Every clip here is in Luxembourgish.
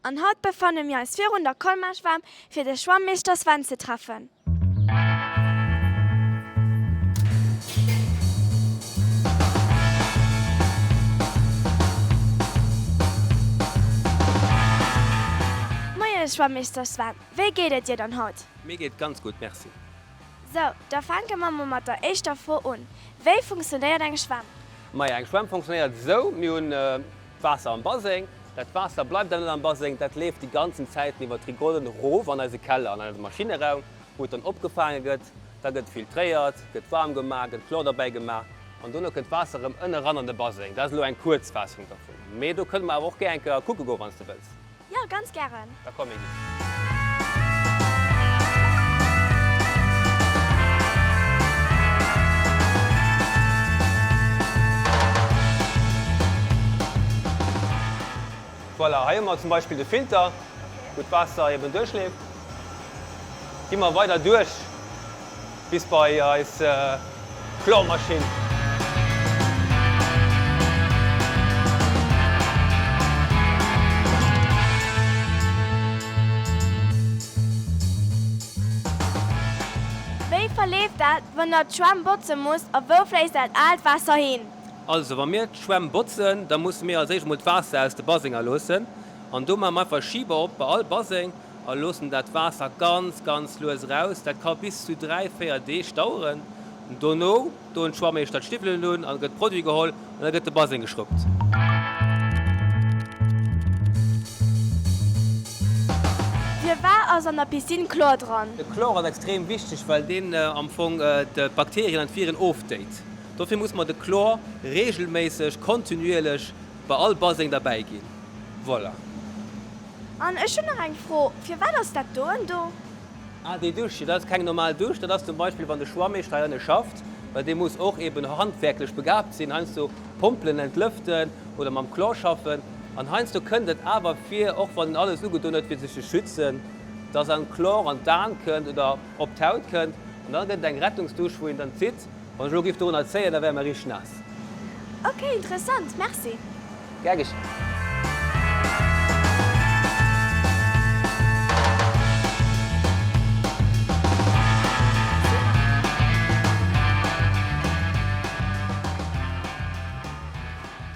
An haut befanne mir eis virun der Colmar-Schwämm fir de Schwammeeschter Sven ze treffen. Moien Schwammeeschter Sven, wéi geet et dir dann haut? Mir geet et ganz gutt, merci. Sou, da fänke mer mol mat der éischter Fro un, Wéi funktionéiert eng Schwämm? Majo, eng Schwämm funktionéiert esou, mir hunn D'Waasser am Baseng, dat Waasser bleift dann net am Baseng, dat leeft déi ganzen Zäiten iwwer d'Rigolen erof an eise Keller, an eise Maschineraum, wou et dann opgefaange gëtt. Da gëtt et filtréiert, gëtt waarm gemaach, gëtt Chlor derbäi gemaach an dono kënnt d'Waasser erëm ënne ran an de Baseng. Dat ass elo eng Kuerzfaassung dervun, mee do kënne mer awer och gär eng Kéier kucke goen, wann s de wëlls. Jo, ganz gären! Da komm, mir ginn. Voilà, hei hu mer zum Beispill de Filter, wou d'Waasser eben duerchleeft. Gi mer weider duerch. Bis bei eis Flormaschinn! Wéi verleeft dat, wann der d'Schwämm botze musst a wou fléisst dat aalt Waasser hin? Also wa mir d'Schwämm botzen, da musse mir als éischt emol d'Waasser aus de Basenger loossen an do maache mer einfach e Schiber op bei all Baseng. a loossen dat Waasser ganz, ganz lues eraus. Dat ka bis zu dräi, véier Deeg daueren. Dono doen d'Schwammeeschter d'Stiwwelen un an et gëtt Produit geholl an da gëtt de Baseng geschruppt. Fir war ass an der Piscine Chlor dran? De Chlor ass extrem wichteg, well deen am Fong d'Bakterien an d'Viren oftéit. Dofir muss mer de Chlor reegelméisseg, kontinuierlech bei all Baseng derbäi ginn. Voilà. An ech hunn nach eng Fro, Firwat ass dat doen do? Ah, déi Dusch, jo, dat ass keng normal Dusch. Dat ass zum Beispill, wann de Schwammeeschter hei ënne schafft, well dee muss och eeben handwerklech begaabt sinn, heiansdo Pompelen entlëften oder mam Chlor schaffen. An heiansdo kënnt et awer vir, och wann en alles ugedon huet, fir sech ze schützen, dass en Chlor an d'Aen kënnt oder op d'Haut kënnt. An da gëtt et eng Rettungsdusch, wou een dann zitt. Wann ech elo giff dorunner zéien, da wäre mer richteg naass. Ok, interessant, merci. Gär geschéen.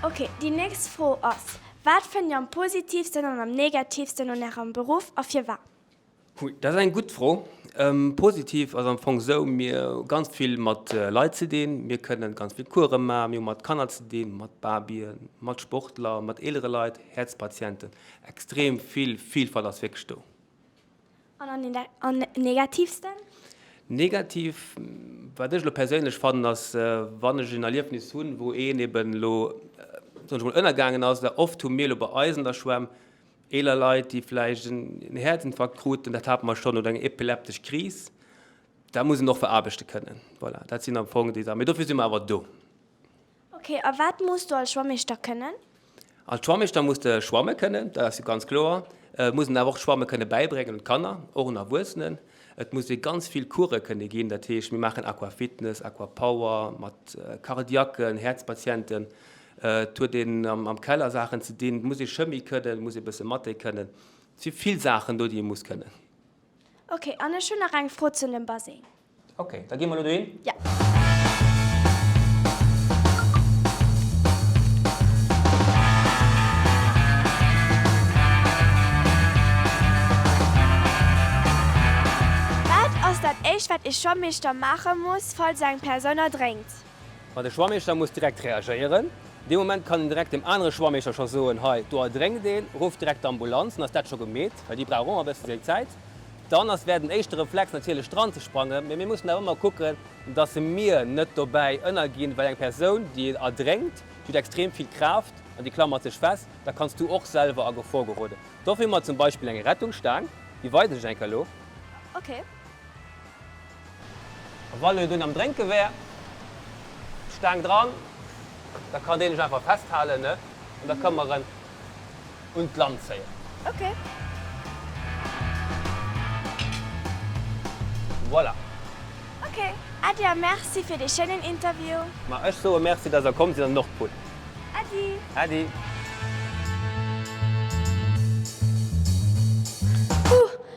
Ok, déi nächst Fro ass, Wat fënnt Dir am positivsten an am negativsten un Ärem Beruff a firwat? Hui, dat ass eng gutt Fro. Positiv ass am Fong esou, mir hu ganz vill mat Leit ze dinn. Mir kënnen ganz vill Coursen maachen. Mir hu mat Kanner ze dinn, mat Babyen, mat Sportler, mat eelere Leit, Häerzpatienten. Extrem vill Vilfalt ass wierklech do. An am negativsten? Negativ, wat ech elo perséinlech fannen, ass wann ech en Erliefnis hunn, wou een eben elo, soen ech emol, ënnergaangen ass. Well oft hu mir elo bei eis an der Schwämm, Eeler Leit, déi vläicht en Häerzinfarkt kruten, dat hate mer schonn, oder eng epileptesch Kris, dat muss een och veraarbechte kënnen. Voilà, dat sinn am Fong déi Saachen. Mee dofir si mer awer do. Ok, a wat muss du als Schwammeeschter kënnen? Als Schwammeeschter muss de schwamme kënnen, dat ass jo ganz kloer. Et muss een awer och d'Schwamme kënne bäibréngen un d'Kanner, och un Erwuessenen. Et muss ee ganz vill Course kënne ginn, dat heescht, mir maachen Aquafitness, Aquapower mat Cardiacken, Häerzpatienten. Et huet een am Keller Saachen ze dinn. Et muss ee Chemie kënnen, et muss ee bësse Mathé kënnen. Et si vill Saachen do, déi ee muss kënnen. Ok, an ech hunn nach eng Fro zu dem Baseng. Ok, da gi mer elo dohin. Jo. Wat ass dat éischt, wat ee Schwammeeschter maache muss, falls eng Persoun erdrénkt? Ma de Schwammeeschter muss direkt reagéieren. Dee Moment kann en direkt dem anere Schwammeeschter scho soen, Hei, do erdrénkt een, rufft direkt d'Ambulanz, dann ass dat scho gemeet, well déi brauch och ëmmer e bësse seng Zäit. Dann ass, wär den éischte Reflex natierlech dran ze sprangen, mee mir mussen awer ëmmer kucken, dass e mir net dobäi ënnerginn, well eng Persoun, déi erdrénkt, déi huet extrem vill Kraaft an déi klammert sech fest, da kanns du och selwer a Gefor geroden. Dofir hu mer zum Beispill eng Rettungsstaang, déi weisen ech eng Kéier elo. Ok. A wann en dunn am Drénke wär, d'Staang dran, da kann deen lech einfach festhalen, ne? An da ka mer en un d'Land zéien. Okay. Voilà. Okay. Äddi a Merci fir dee schéinen Interview. Ma ech soe Merci, dass der komm sidd an den Nordpol. Äddi. Äddi. Puh!